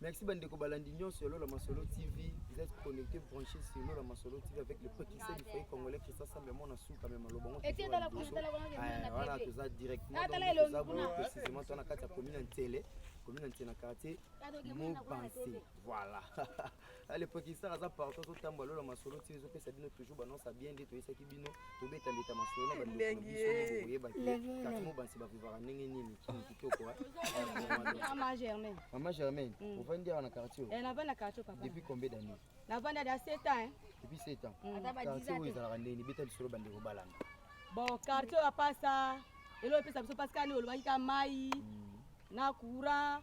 Merci bandeko balandi nyonso ya Lola Masolo TV. Vous êtes connectés, branchés sur Lola Masolo TV avec le précurseur du foyer congolais Christian Sambe Mwana Suka mais maloba ngo. Ete dala kuna dala kuna ngena. Voilà, toza directement ah, dans toza bo précisément tona kati ya commune Ntele, commune Ntele na quartier Mobanse. Voilà. ale pekisaka aza partout azotambwa lola masolo ntina ezopesa bino toujours banonsa bien nde toyesaki bino tobeta mbeta masolo na bandokoyebakatimo bansi bavivaka ndenge nini kini kitoko mama germain mama germain mm. ovandi awa na quartier eh, navandi na quartier papa depuis combien d'année navandi ada 7 ans depuis 7 ans mm. quartier oyo ezalaka ndeni beta lisolo bandeko balanda bon quartier oyo apasa elo epesa biso pasikani olobaki ka mai mm. na courant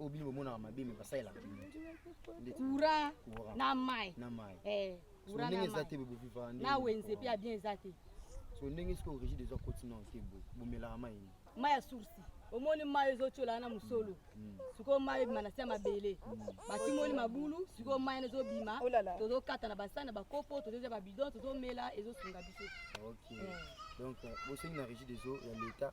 oyo bino bomonaka mabe me basalelaka kura na mai eh, ndenge eza te bobivaka na wenze mpe ya bien eza te so ndenge soki origi deja koti na te bomelaka mai ni mai ya soursi omoni mai ezotyola na mosolo mm. mm. sikoyo mai ebima na se ya mabele mm. batimoli mabulu sikoyo mai ena ezobima oh tozokata na basani na bakopo tozozya babidon tozomela ezosunga biso donc euh, bosengi na régie des eaux ya l'état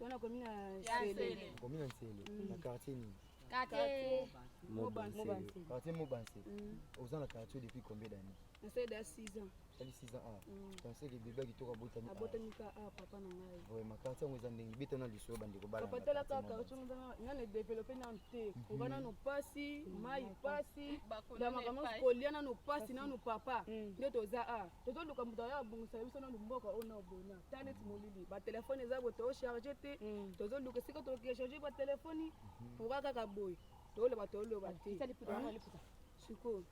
Wana komi na Nsele. Komi na Nsele. Mm. Na quartier nini? Quartier Mobansele. Quartier Mobansele. Mm. Oza na quartier depuis combien d'années? Na sala da 6 ans. Sali 6 ans ah. Pensez que bébé kitoko abotami. Abotami ka ah papa na ngai. Ouais, ma quartier yango eza ndenge beta na lisolo bande ko bala. Papa tala ka quartier yango eza na ne développer na te. Mhm. Oba na no pasi, mai pasi, da makambo kolia na no pasi na no papa. Nde toza ah. tozoluka moto aya abongisa biso nanu mboka oyo nao boye na ta neti molili batelefone eza boye tocharge te mm. tozoluka esika tocharge batelefoni pourka kaka boye toloba toloba te sikoyo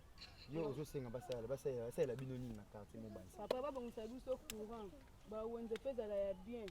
yo ozosenga basalela basalela basalela bino nini na quartier mobali papa babongisa biso courant bawenze mpe ezala ya bien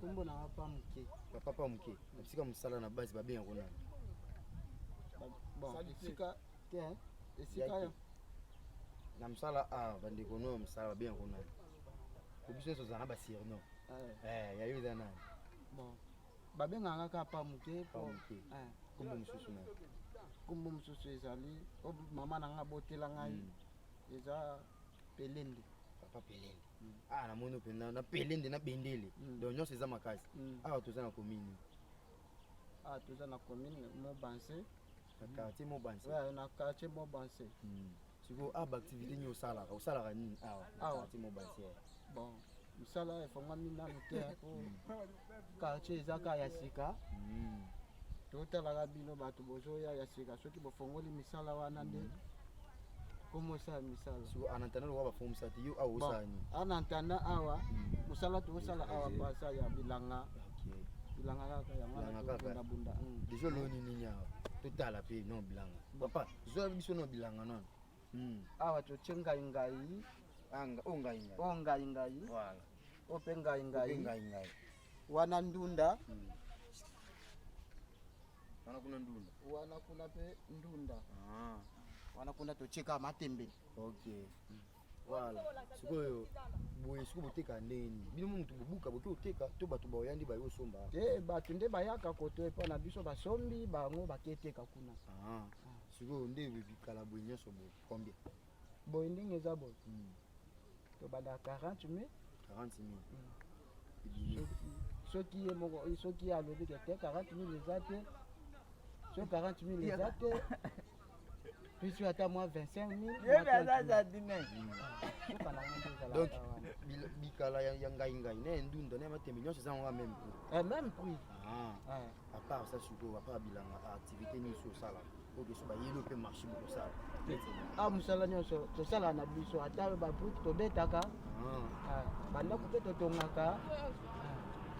Kombo na papa muke. Papa papa muke. Bisika musala na base babe yango na. Bon, bisika te hein. Esika ya. Na musala a bandeko no musala babe yango na. Ko biso nso zana ba surnom. Eh, eh ya yo zana. Bon. Babe nganga ka papa muke. Papa muke. Eh. Kombo mususu na. Kombo mususu ezali. Mama na nga botela ngai. Hmm. Eza pelende papa pelende mm. ah namoni mpe na pelende na bendele mm. donc nyonso eza makasi mm. awa toza na commune awa toza na commune mobanse na quartier mobanse na quartier mobanse sikoyo awa baactivité nini osalaka osalaka nini awa na quartier mobanse bon mosala efongami nanu te po quartier eza kaka ya sika hmm. totalaka bino bato bozoya ya sika soki bofongoli misala wana nde hmm. komosala misala so en attendant owa bafongo mosala te yo awa osala nini en attendant awa hmm. mosala toosala awa pasa ya bilanga bilanga kaka yango bundabunda deja oloni nini awa totala mpe non bilanga papa zoya biso no bilanga nono awa totie ngai ngai o ngai ngai oyo mpe ngai ngai ngai ngai wana ndunda hmm. wana kuna ndunda wana kuna mpe ndunda ah. wana kuna totyeka matembe ok hmm. voilà sikoyo boye sikoyo boteka ndenge nini bino motu bobuka boke oteka to bato baoya nde baye osomba te eh, bato nde bayaka koto epa na biso basombi bango baketeka kuna ah. ah. sikoyo nde bikala boye nyonso boye combien boye ndenge eza boye tobanda 40 mai 40 mai mm. soki ye moko soki ye alobi ke te 40 mille eza te soki 40 mille eza te puisque ata mwa 25 mille donc bikala ya ngai ngai na endunda na matembe nyonso eza yango meme prix eh, meme prix ah. ah. à part ça sikoyo à part bilanga activité nini osi osalaka okesu bayeli mpe marché bokosala a ah, mosala nyonso tosalaka na biso ata babrike tobetaka ah. ah, bandako mpe totongaka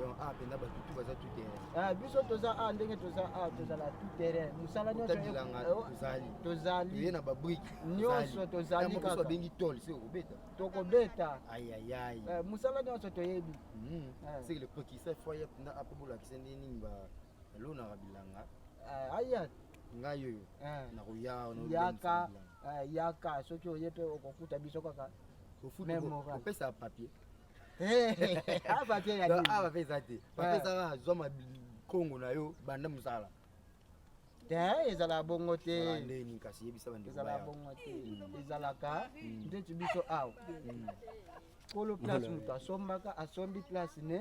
donc a mpenza bato tu baza tout terrain biso toza a ndenge toza a tozala tout terrain mosala nyonsobilanga eh, oh, tozali tozali toye na babrike nyonso tozali kaka babengi tol se okobeta tokobeta ayayai eh, mosala nyonso toyebi hmm. eh. seke le prokiseur foyer mpenza apo bolakisa nde nini ba elonaka bilanga eh, aya ngai oyo eh. nakoya yaka eh, yaka soki oye mpe okokuta biso kaka opesa papier ah, papier ya ah, papier eza te papier ezaka zwa makongo na yo banda mosala te ezala bongo te ndeni kasi yebisa bande ezala bongo te hmm. ezalaka hmm. ndeti biso awa hmm. kolo place moto asombaka asombi place ne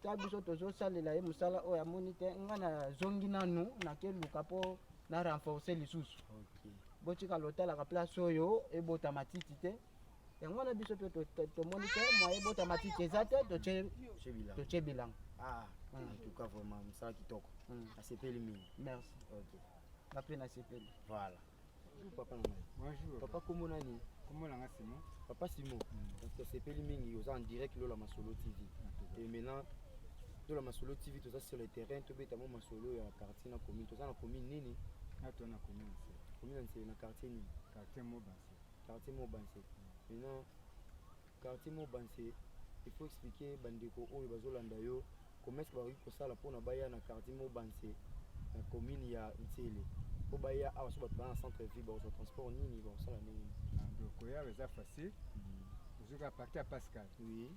ta biso tozosalela ye mosala oyo amoni te ngai nazongi nanu nakeluka mpo na renforce lisusu botika lotalaka place oyo ebota matiti te yango wana biso mpe tomoni te mwa ebota matiti eza te totye bilanga ah, hmm. entuka vraiment mosala kitoko hmm. nasepeli mingi merci mpe nasepeli voilà Bonjour papa na ngai. Bonjour. Papa kombo nani? Kombo na ngai Simon. Papa Simon. Mm. Donc tosepeli mingi oza en direct lola masolo TV. Ah, Et maintenant lola masolo TV toza sur le terrain tobeta mo masolo ya quartier na commune. Toza na commune nini? Na ah, to na commune nse. Commune nse na quartier nini? Quartier Mobanse. Quartier Mobanse. Mm. Maintenant Quartier Mobanse, il faut expliquer bandeko oyo bazolanda yo comment est-ce que bakoki kosala mpona baya na quartier Mobanse na commune ya Nsele mpo baya awa so bato baa na centre ville bakozwa transport nini bakosala ndenge nini Ah, koya eza facile ozoka parti ya pascal oui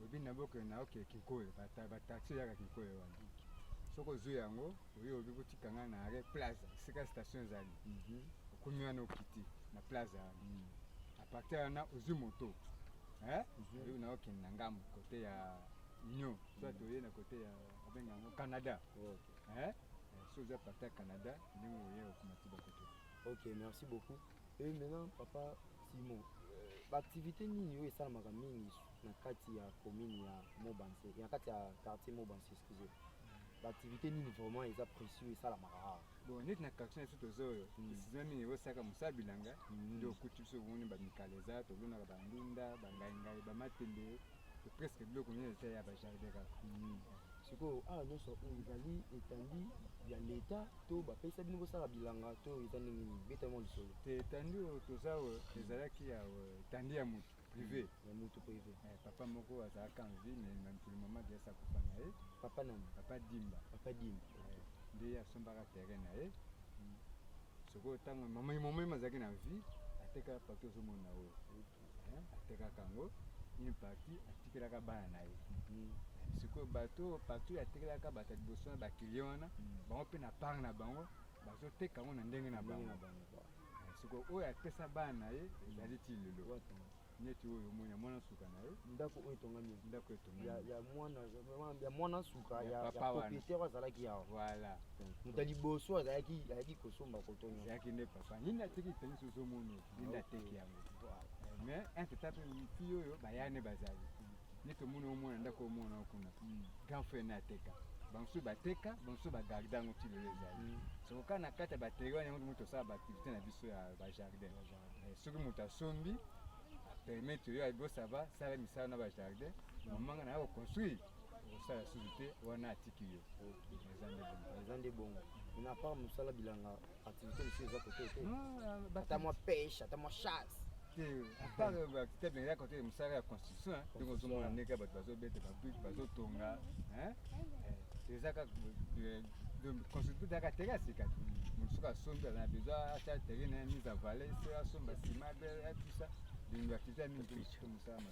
oyebi na boke na oke kinkoyo bataxi eyaka kinkoyo wana soki ozwi yango oyo obi kotika ngai na arret plaza esika station ezali mhm. okomi wana okiti na plaza wana mhm. apartir wana ozwi moto eh? mhm. oyo na okende na ngambo kote ya union soit toye na kote ya abenga yango canada eh? eh, so oza parti ya canada ndenge oye okomati bakoto ok merci beaucoup e maintenant papa simon euh, baactivité nini oyo esalamaka mingi na kati ya commune ya mobanse na kati ya quartier mobanse excusez ba activité nini vraiment eza précieux esalamaka awa bon neti na quartier na biso toza oyo esizima mingi ekosaka mosala bilanga nde okuti biso omoni bamikala eza tolonaka bandunda bangaingai bamatembe presque biloko nyonso eza ya bajardin kaka sikoyo awa nyonso oyo ezali etandi ya leta to bapesa bino bosala bilanga to eza ndenge nini betama lisolo te etandi oyo toza oyo ezalaki ya etandi ya motu privé ya mutu privé eh, papa moko azalaka en vie mais na mokili mama diasa akufa na ye papa nani papa dimba papa dimba eh, nde asombaka terrain na ye mm. sikoyo ntango mama mama ye azalaki na vie atekaka parti ozomona oyo eh, atekaka yango une partie atikelaka bana na ye mm. sikoyo bato partout atekelaka bato ya liboso na bakilien wana mm. bango mpe na part na bango bazoteka yango na ndenge na bango soko oyo apesa bana na ye ezali ti lelo neti oyo omoni ya mwana nsuka na ye ndako oyo etongami ndako etongami ya mwana nsuka ya propriétaire oyo azalaki yawa voilà moto ya liboso azalaki ayaki kosomba kotonga ezalaki nde papa nini ateki tenisi ozomoni nini ateki yango mais entre temps mpe miti oyo bayane bazali nde tomoni oyo mwana ndako oyo mwana okuna hmm. grand frère na ateka bamosusu bateka bamosusu bagarde yango ti lelo ezali hmm. soko kaka na kati ya bateri wana yango moto osala baaktivité na biso ya bajardin eh, soki moto asombi permettre yo agosaba sala misala na bajardin mamanga na ya koconstruire kosala susu te wana atiki yo eza nde bongo na part mosala bilanga activité mosusu eza kote te ah, ata mwa pêche ata mwa chasse te mais ya kote mosala ya constitution ndenge ozomona ndenge bato bazobeta babrike bazotonga eza kaka constitution ezaka teke ya sika mosusu asombi aza na besoin atia terrain na mise en valeur se asomba sima tout ça donc activité ya mingi mosala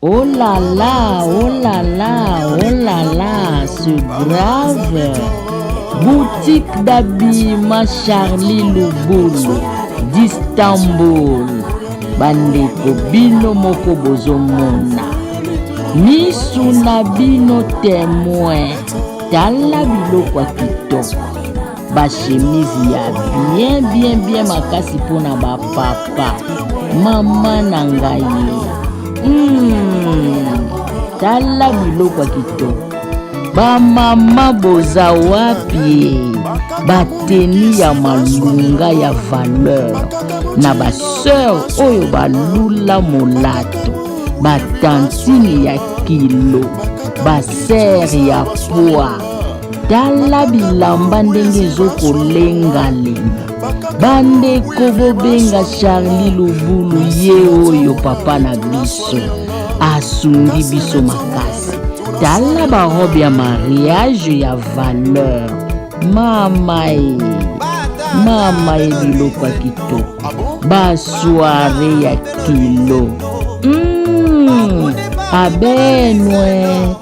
Oh là là, oh là là, oh là là, c'est grave. Boutique d'habillement Charlie Lubulu d'Istanbul. Bandeko bino moko bozomona. Misu na bino temoin. Tala biloko ya kitoko. ba chemise ya bien bien bien makasi mpona ba papa mama na ngai mm, tala biloko ya kitoko bamama boza wapi bateni ya malunga ya valeur na baseur oyo balula molato batantini ya kilo basere ya pwa tala bilamba ndenge ezokolenga lenga bandeko bobenga charli lubulu ye oyo papa na biso asungi biso makasi tala barobe ya mariage ya valeur mama e mama e biloko ya kitoko basoire ya kilo mm, abenwe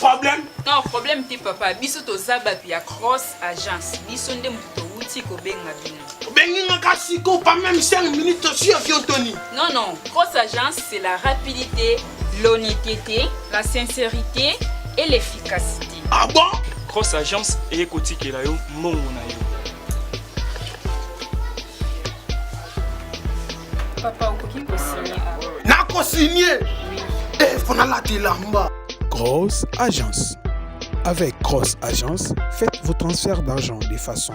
problème non problème te papa biso toza bato ya cross agence biso nde moto towuti kobenga bino obengi nga ka siko pas même 5 minutes osi avion toni non non grosse agence c'est la rapidité l'honnêteté la sincérité et l'efficacité ah bon grosse agence eye kotikela yo mbongo na yo papa okoki kosigne nakosigne efo nalata elamba grosse agence avec grosse agence faites vos transferts d'argent de façon